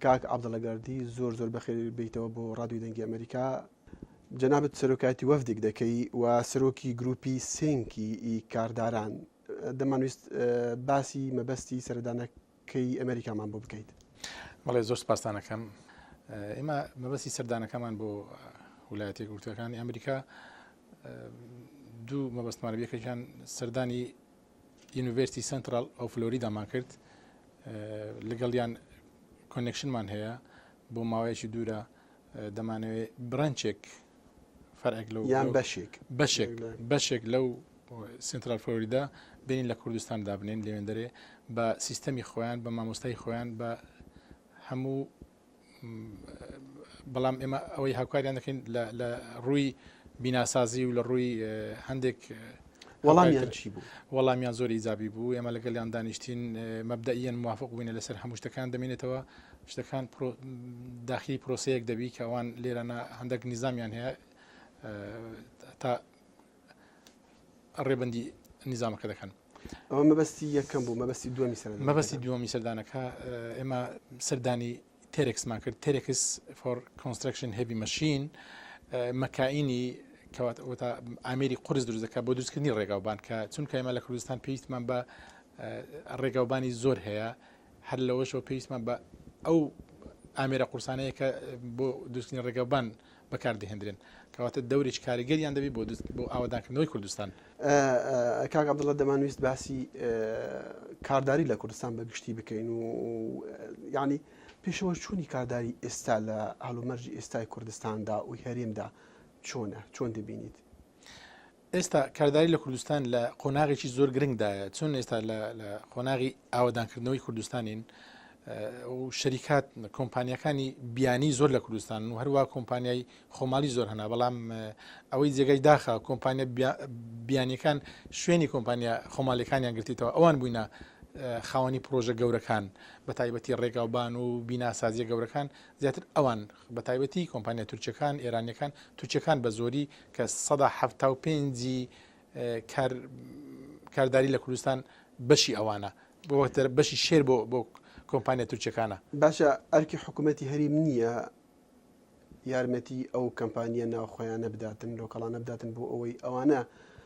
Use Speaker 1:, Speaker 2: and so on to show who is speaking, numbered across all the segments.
Speaker 1: کاک عبداللە گەردی زۆر زۆر بەخێر بیتەوە بۆ ڕادوی دەنگی ئەمریکا جەنابەت سەرۆکایەتی وەفدێک دەکەی و سەرۆکی گروپی سنکی ئی کارداران دەمانویست باسی مەبەستی سەردانەکەی ئەمریکامان بۆ بکەیت بەڵێ زۆر
Speaker 2: پاسانەکەم ئێمە مەبەستی سەردانەکەمان بۆ ولایەتی گوتەکانی ئەمریکا دوو مەبەستمانە یەکەکان سەردانی یونیڤێرستی سەنتڕاڵ ئۆف فلۆریدامان کرد لەگەڵیان کۆنێکشنمان هەیە بۆ ماوەیەکی دوورە دەمانەوێت برەنچێک فەرێک لەو یان بەشێک
Speaker 1: بەشێک
Speaker 2: بەشێک لەو سنترال فلۆریدا بینین لە کوردستان دابنین لەوێندەرێ بە سیستەمی خۆیان بە مامۆستای خۆیان بە هەموو بەڵام ئێمە ئەوەی هاوکاریان دەکەین لە ڕووی بیناسازی و لە ڕووی هەندێک وەڵامیان
Speaker 1: چی بوو وەڵامیان زۆر ئیزابی
Speaker 2: بوو ئێمە لەگەڵیان دانیشتین مەبدەیەن موافق بووینە لەسەر هەموو شتەکان دەمێنێتەوە شتەکان داخلی پرۆسەیەک دەبی کە ئەوان لێرەە هەندێک نیزامیان هەیە تا ڕێبندی نیزامەکە دەکەن ئەوە مەبەستی
Speaker 1: یەکەم بوو مەبەستی دومی سەر مەبەستی دومی سەردانەکە
Speaker 2: ئێمە سەردانی تێرەکسمان کرد تێرەکس فۆر کۆنسترکشن هەبی مەشین مەکینی کەوات ئەوتا ئامری قرس دروستەکە بۆ دروستکردنی ڕێگاوبان کە چونکە ئێمە لە کوردستان پێویستمان بە ڕێگاوبانی زۆر هەیە هەر لەوەشەوە پێویستمان بە ئەو ئامێرە قورسانەیە کە بۆ دوستنی ڕێگەبان بەکار دەهێندرێن، کەواتە دەورێکی کاریگەریان دەبێت بۆ بۆ ئاوەدانکردنەوەی کوردستان.
Speaker 1: کاک عەبدوڵا دەمانویست باسی کارداری لە کوردستان بە گشتی بکەین و یانی پێشەوەچوونی کارداری ئێستا لە هەڵومەرجی ئێستای کوردستاندا و هەرێمدا چۆنە چۆن دەبینیت؟
Speaker 2: ئێستا کارداری لە کوردستان لە قۆناغێکی زۆر گرنگدایە چون ئێستا لە قۆناغی ئاوادانکردنەوەی کوردستانین شەریکات کۆمپانیەکانی بیانی زۆر لە کوردستان و هەروە کۆمپانیای خۆماڵی زۆر هەنا بەڵام ئەوەی جێگای داخە کۆمپانیا بیانیەکان شوێنی کۆمپانیا خۆماڵەکانیان گرتیتەوە ئەوان بووینە خاوەنی پرۆژە گەورەکان بە تایبەتی ڕێگاوبان و بیناسازیە گەورەکان زیاتر ئەوان بە تایبەتی کۆمپانیا تورکیەکان، ئێرانیەکان، تورکیەکان بە زۆری کە سەدا حەفتا و پێنج ی کار کارداری لە کوردستان بەشی ئەوانە. بۆتە بەشی شێر بۆ بۆ کۆمپانیا تورکیەکانە. باشە ئەرکی
Speaker 1: حکومەتی هەریم نیە یارمەتی ئەو کەمپانیە ناوخۆیانە بداتن لۆکەڵانە بداتن بۆ ئەوەی ئەوانە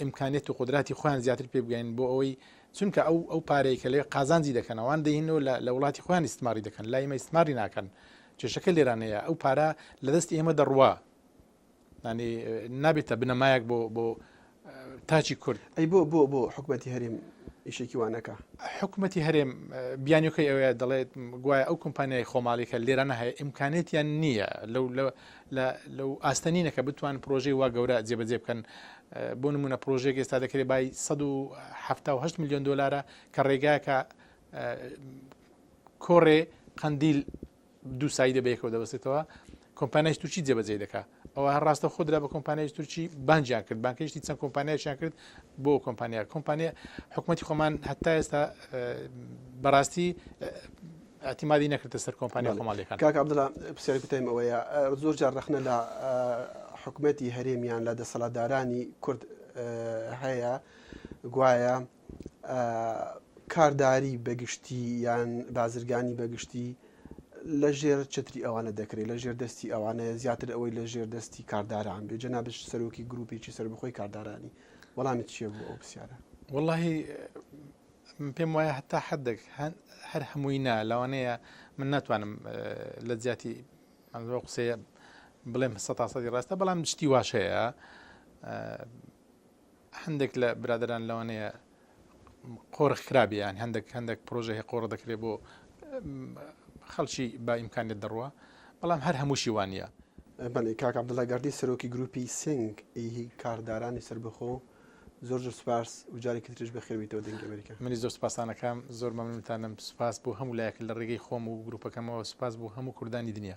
Speaker 2: ئیمکانیەت و قدراتی خۆیان زیاتر پێ بگەین بۆ ئەوەی چونکە ئەو ئەو پارەیە کە لێ قازانجی دەکەن ئەوان دەینەوە لە وڵاتی خۆیان استماری دەکەن لای ئمە استماری ناکەن کێشەکە لێرانەیە ئەو پارە لە دەست ئێمە دەڕوا نانی نابێتە بنەمایەک بۆ بۆ تاچی کورد ئەی بۆ بۆ بۆ
Speaker 1: حکوومەتتی هەریم ئیشێکی وانەکە حکوومەتتی هەرێم
Speaker 2: بیانەکەی ئەوەیە دەڵێت گوایە ئەو کۆمپانیای خۆماڵیکە لێرانە هەیە ئیمکانێتیان نییە لەو لە لەو ئاستە نینە کە بتوان پرۆژەی وا گەورە جێبەجێ بکەن بۆ نمونە پرۆژێک ئێستا دەکرێت بای 1970 میلیۆن دلارە کە ڕێگاکە کۆڕێ قندیل دوو سایی دەبێکەوە دەبستێتەوە کۆمپانیای تورکی جێبەجێ دەکات ئەوە هەر ڕاستە خودرا بە کۆمپانیای تورکی بانجیان کرد بانکەشتی چەند کۆمپانیایان کرد بۆ کۆمپانیا کۆمپانیا حکوومەتتی خۆمان هەتا ئێستا بەڕاستی ئیعتیمادی نەکردە سەر کۆمپانیا خۆماڵییەکان. بەڵێ. کاک عەبدوڵا، پرسیاری
Speaker 1: کوتایم ئەوەیە، زۆر جار ڕەخنە لە حکومەتی هەرێم یان لە دەسەڵاتدارانی کورد هەیە گوایە کارداری بە گشتی یان بازرگانی بە گشتی لە ژێر چەتری ئەوانە دەکرێت، لە ژێر دەستی ئەوانەیە زیاتر ئەوەی لە ژێر دەستی کارداران بێت. جەنابت سەرۆکی گرووپێکی سەربەخۆی کاردارانی، وەڵامت چییە بۆ ئەو پرسیارە؟ وەڵڵاهی
Speaker 2: من پێم وایە هەتا حدێک هەر هەمووی نا لەوانەیە من ناتوانم لە جیاتی ئەمەوە قسەیە بڵێم سە تاسەدی ڕاستە بەڵام شتی واش هەیە هەندێک لە برادران لەوانەیە قۆرخ کرابیان هەندێک هەندێک پرۆژه هەیە قۆڕ دەکرێت بۆ خەڵکی با ئیمکانێت دەڕوە بەڵام هەر هەمووشی وانە بەڵێ کاک
Speaker 1: عبدڵە گەردی سەرۆکی گروپی سنگ ئی کاردارانی سربەخۆ زۆر زۆر سوپاس و جارێکی تریش بەخێر بێیتەوە دەنگی ئەمەریکا. منیش زۆر سوپاستان ئەکەم،
Speaker 2: زۆر مەمنونتانم، سوپاس بۆ هەموو لایەک لە ڕێگەی خۆم و گروپەکەمەوە، سوپاس بۆ هەموو کوردانی دنیا.